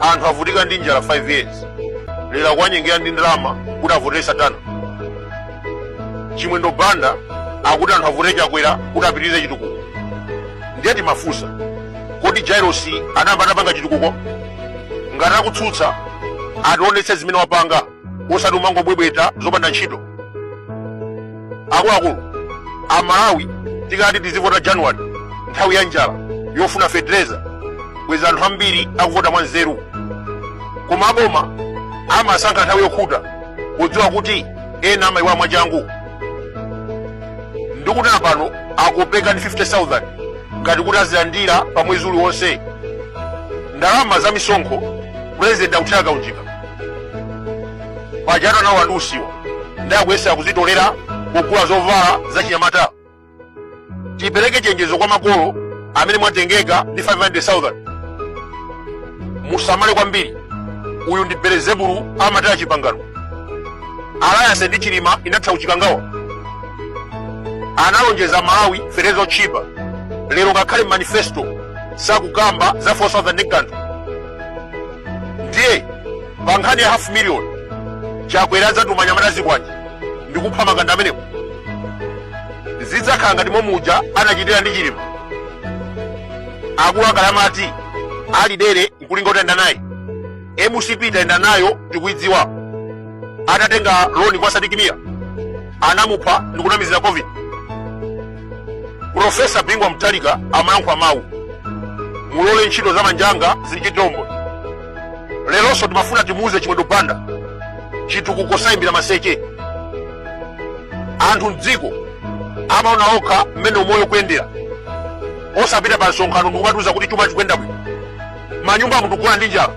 anthu avutika ndi njala 5 years lero akuwanyengera ndi ndalama kuti avotere satana chimwendo banda akuti anthu avotere chakwera kuti apitirize chitukuko ndiye timafunsa kodi jairosi anayamba anapanga chitukuko ngati akutsutsa ationetse zimene wapanga osati umangobwebweta zopanda ntchito akuluakulu amalawi tikati tizivota january nthawi ya njala yofuna fetereza bwezi anthu ambiri akuvota mwa nzeru koma aboma amasankha nthawi yokhuta podziwa kuti ena amayiwa mwachangu ndikutana pano akopeka ndi 50000 ngati kuti azilandira pa mwezi uliwonse ndalama za misonkho pulezidenti akuthera kaunjika pajatu anawa ndi usiwa ndiye akuyesera kuzitolera kugula zovala za chinyamata tipereke chenjezo kwa makolo amene mwatengeka ndi 500,000 musamale kwambiri uyu ndi belezebulu amataya chipangano alliance ndi chilima inatha kuchikangawa analonjeza malawi fetereza wotchipa lero ngakhale manifesto sakukamba za 4000 ndi kanthu ndiye pa nkhani ya half million chakwera adzatuma anyamata azikwanje ndi kupha makanda amenewo zidzakhala ngati momuja anachitira ndi chilima akulu akale amati ali dere nkulinga utayenda naye mcp tayenda nayo tikuidziwa atatenga loni kwa sidik mia anamupha ndikunamizira covid Profesa Bingu wa Mutharika amayankhula mawu mulole ntchito za manja anga zindichitire umboni. Leronso timafuna timuuze Chimwendo Banda chitukuko sayimbira maseche. Anthu m'dziko amaona okha mmene umoyo ukuyendera osapita pa msonkhano ndikumatiuza kuti chuma chikuyenda bwino manyumbamu tikugona ndi njala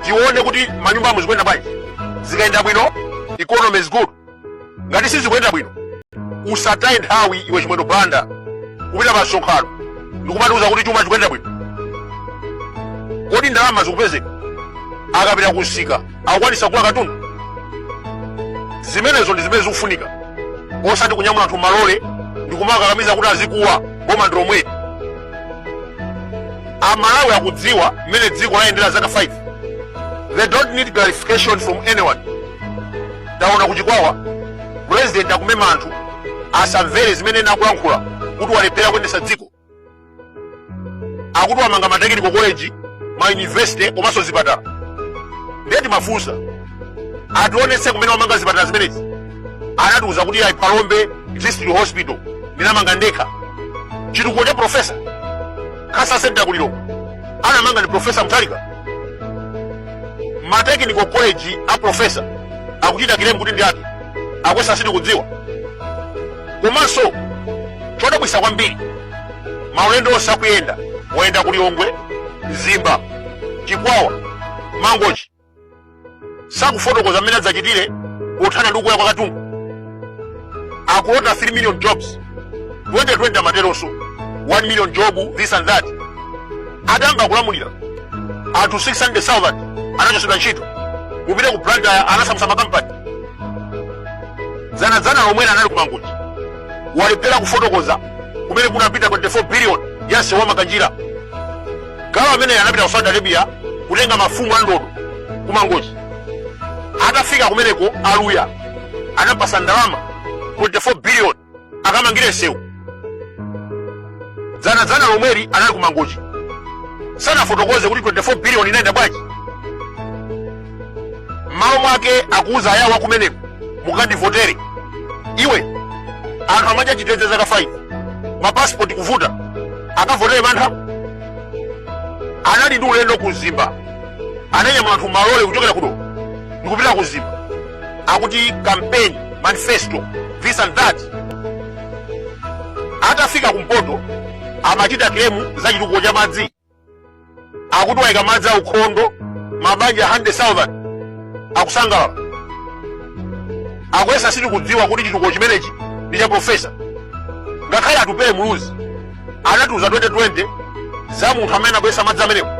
tione kuti manyumbamu zikuyenda bwanji zikayenda bwino economy is good ngati sizikuyenda bwino usataye nthawi iwe chimwendo banda kupita pa msonkhano ndikumatiuza kuti chuma chikuyenda bwino kodi ndalama zikupezeka akapita kunsika akukwanisa kugula katundu zimenezo ndi zimene zikufunika osati kunyamula anthu malole ndikumakakamiza kuti azikuwa boma ndi lomweli amalawi akudziwa mmene dziko layendera zaka 5 they don't need clarification from anyone taona kuchikwawa pulezidenti akumema anthu asamvere zimene ena akulankhula kuti walephera kuyendetsa dziko akuti wamanga matekiniko koleji mayunivesite komanso zipatala ndiye timafunsa ationetse kumene wamanga zipatala zimenezi anatiuza kuti ayi phalombe district hospital ndinamanga ndekha chitukuko cha profesa cancer center kulilongo anamanga ndi profesa mutharika matekiniko college a profesa akuchita kilemu kuti ndi ake akuyesa sitikudziwa komanso chodabwisa kwambiri maulendo onse akuyenda woyenda ku lilongwe mzimba chikwawa mangochi sakufotokoza mmene adzachitire pothana ndi kukwera kwa katundu akulota 3 million jobs 2020 amateronso 1 million job this and that adayamba kulamulira anthu 600,000 anachotsedwa ntchito kupita ku blantyre anasamutsa makampani dzanadzana lomwena anali ku mangochi walephera kufotokoza kumene kunapita 24 billion ya nsewu wa makanjira galu amene anapita ku saudi arabia kutenga mafumu a ndodo ku mangochi atafika kumeneko aluya anawapatsa ndalama 24 billion akamangire nsewu dzanadzana lomweli anali ku mangochi sanafotokoze kuti 24 billion inayenda bwanji m'malo mwake akuwuza ayawo kumeneko mukandivotere iwe anthu amadya chitedze zaka 5 mapasipoti kuvuta akavotere mantha anali ndi ulendo ku mzimba ananyamula anthu malole kuchokera kuno ndikupita ku mzimba akuti campaign manifesto this and that atafika kumpoto amachita kilemu za chitukuko cha madzi akuti wayika madzi aukhondo mabanja 100,000 akusangalala akuyesa sitikudziwa kuti chitukuko chimenechi ndi cha profesa ngakhale atupele muluzi anatiuza 2020 za munthu amene akuyesa madzi amenewo